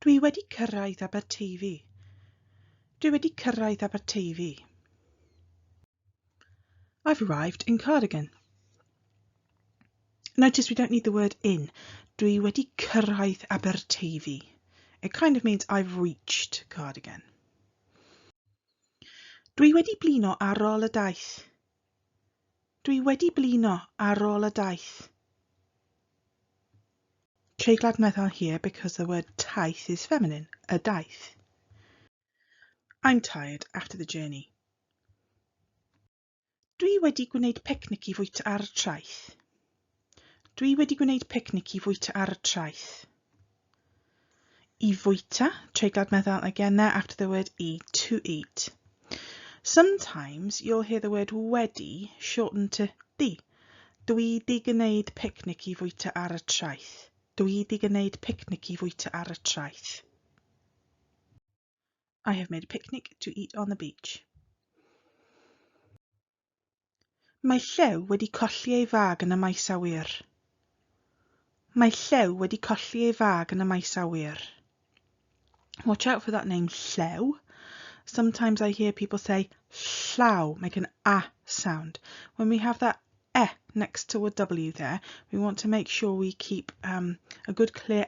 Dwi wedi cyrraedd Aberteifi. Dwi wedi cyrraedd Aberteifi. I've arrived in Cardigan. Notice we don't need the word in. Dwi wedi cyrraedd Aberteifi. It kind of means I've reached Cardigan. Dwi wedi blino ar ôl y daith. Dwi wedi blino ar ôl y daith. Treiglad Maeth on here because the word taith is feminine, y daith. I'm tired after the journey. Dwi wedi gwneud picnic i fwyta ar y traeth. Dwi wedi gwneud picnic i fwyta ar y traeth. I fwyta, treiglad meddal again there after the word i, to eat. Sometimes you'll hear the word wedi shortened to di. Dwi di gwneud picnic i fwyta ar y traeth. Dwi di gwneud picnic i fwyta ar y traeth. I have made a picnic to eat on the beach. Mae Llew wedi colli ei fag yn y maes awyr. Mae Llew wedi colli ei fag yn y maes awyr. Watch out for that name, Llew. Sometimes I hear people say llaw, make an a sound. When we have that e next to a w there, we want to make sure we keep um, a good clear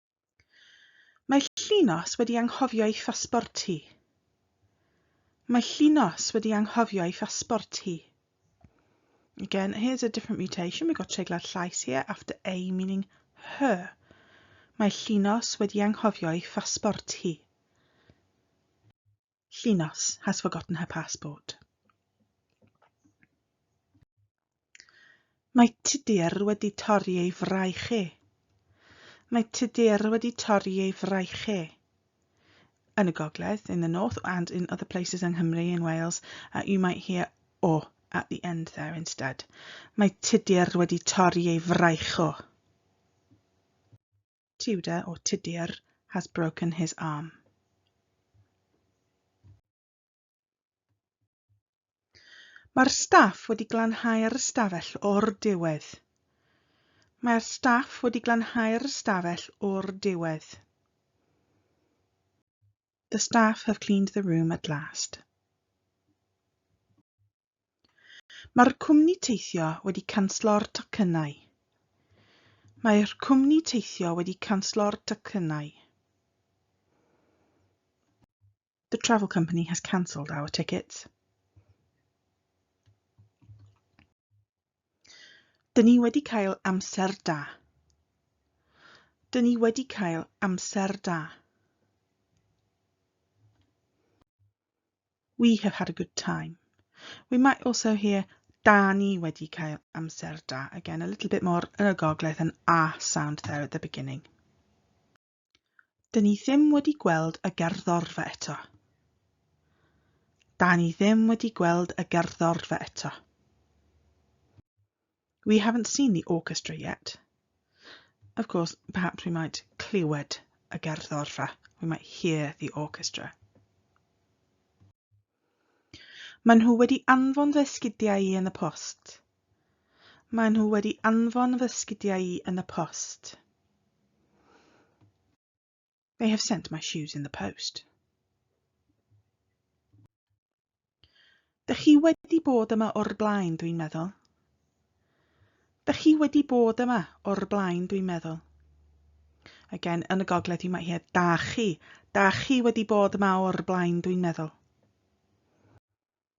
Mae Llinos wedi anghofio ei phasbort hi. Mae Llinos wedi anghofio ei phasbort hi. Again, here's a different mutation. We've got treiglad llais here after a meaning her. Mae Llinos wedi anghofio ei phasbort hi. Llinos has forgotten her passport. Mae Tudur wedi torri ei fraich e. Mae Tudur wedi torri ei fraich e. Yn y gogledd, in the north and in other places yng Nghymru, in Wales, uh, you might hear o at the end there instead. Mae Tudur wedi torri ei fraich o. Tudor or Tudur has broken his arm. Mae'r staff wedi glanhau ar ystafell o'r diwedd. Mae'r staff wedi glanhau ar ystafell o'r diwedd. The staff have cleaned the room at last. Mae'r cwmni teithio wedi canslo'r tocynnau. Mae'r cwmni teithio wedi canslo'r tocynnau. The travel company has cancelled our tickets. Dyn ni wedi cael amser da. Dyn ni wedi cael amser da. We have had a good time. We might also hear da ni wedi cael amser da. Again, a little bit more yn y gogledd, an a sound there at the beginning. Dyn ni ddim wedi gweld y gerddorfa eto. Da ni ddim wedi gweld y gerddorfa eto. We haven't seen the orchestra yet. Of course, perhaps we might clywed y gerddorfa. We might hear the orchestra. Maen nhw wedi anfon fy sgidiau i yn y post. Maen nhw wedi anfon fy sgidiau i yn y post. They have sent my shoes in the post. Dych chi wedi bod yma o'r blaen, dwi'n meddwl. Dych chi wedi bod yma o'r blaen, dwi'n meddwl. Again, yn y gogledd, you might hear da chi. Da chi wedi bod yma o'r blaen, dwi'n meddwl.